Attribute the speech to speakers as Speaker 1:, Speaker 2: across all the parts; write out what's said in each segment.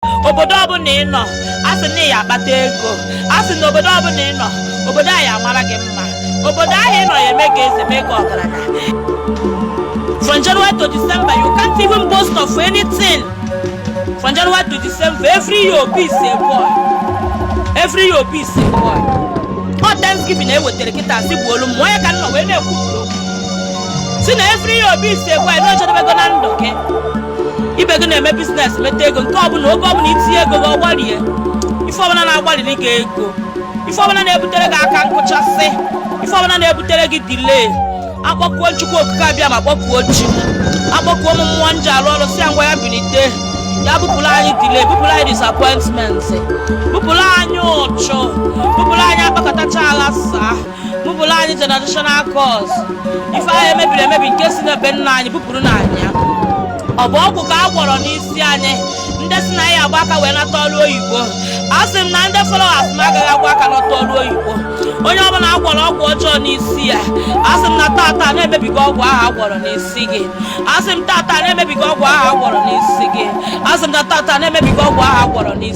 Speaker 1: obodo ọbụla ị nọ a sị na ya akpata ego a sị na obodo ọbụla ị nọ obodo ahụ ya amara gị mma obodo ahụ ị nọ ya eme gị eze mee gị ọgaranya from january to december you can't even boast of anything from january to december every year obi is a boy every year obi is a boy ọ thanksgiving ewetara kịta si bụ olu m onye ka nọ wee na-ekwu sị na every year obi is a boy na o jedebego na ndụ gị ibe gị na-eme business meta ego nke ọbụla oge ọbụla i tinye ego gị ọ gbarie ife ọbụla na-agbaliri gị ego ife ọbụla na-ebutere gị aka nkụchasị ife ọbụla na-ebutere gị delay akpọkuo m chukwu okike abịama kpọkuo chi akpọkuo ụmụ mmụọ m ji arụ ọrụ sị ya ngwa ya bilite ya bupụrụ anyị delay bupụrụ anyị disappointment bupụrụ anyị ụchụ bupụrụ anyị akpakọtacha aghasaa bupụrụ anyị generational curse ife ahụ e mebiri emebi nke si na be nna anyị bupụrụnụ anyị ya ọ bụ ọgwụ ka a gwọrọ n'isi anyị ndị sị na anyị ya agba aka wee nata ọrụ oyibo a sị m na ndị followers m agaghị agba aka nata ọrụ oyibo onye ọbụla a gwọrọ ọgwụ ọjọọ n'isi ya a sị m na tata na emebigo ọgwụ ahụ a gwọrọ n'isi gị a sị m tata na emebigo ọgwụ ahụ a gwọrọ n'isi gị a sị m na tata na emebigo ọgwụ ahụ a gwọrọ n'isi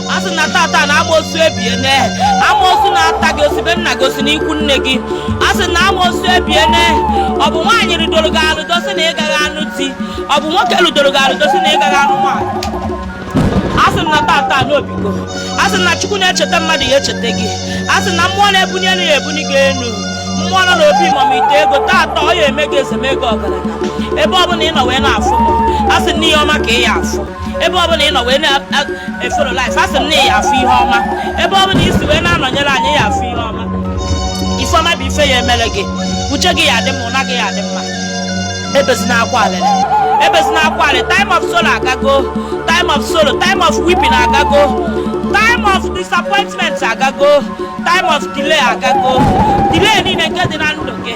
Speaker 1: a sị m na tata na amoosu ebiene amoosu na-ata gị o si be nna gị o si n'ikwu nne gị a sị na amoosu ebiene ọ bụ nwaanyị rụdoro gị arụdo sị na ị gaghị anụ di ọ bụ nwoke rụdoro gị arụdo sị na ị gaghị anụ nwaanyị a sị m na tata na o bigo a sị na chukwu na-echeta mmadụ ya echeta gị a sị na mmụọ na-ebuni elu ya ebuni gị elu mmụọ nọ n'obi mama ite ego tata ọ ya eme gị eze mee gị ọgaranya ebe ọ bụla ị nọ wee na-afụ m a sị na ihe ọma ka ị ya afụ ebe ọ bụla ị nọ wee na-efollow live asị m na ị ya afụ ihe ọma ebe ọ bụla i si wee na-anọnyere anyị ya afụ ihe ọma ife ọma bụ ife ya emere gị uje gị ya adị mma ụna gị ya adị mma ebezina akwa alịrị ebezina akwa alịrị time of sorrow agago time of sorrow time of weeping agago time of disappointment agago time of delay agago delay niile nke dị na ndụ gị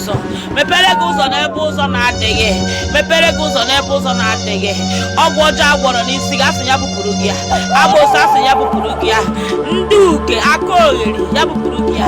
Speaker 1: ụzọ mepere gị ụzọ n'ebe ụzọ na-adịghị mepere gị ụzọ n'ebe ụzọ na-adịghị ọgwụ ọjọọ a gwọrọ n'isi gị asị ya bupụrụ gị ya amoosu asị ya bupụrụ gị ya ndị uke akaogheri ya bupụrụ gị ya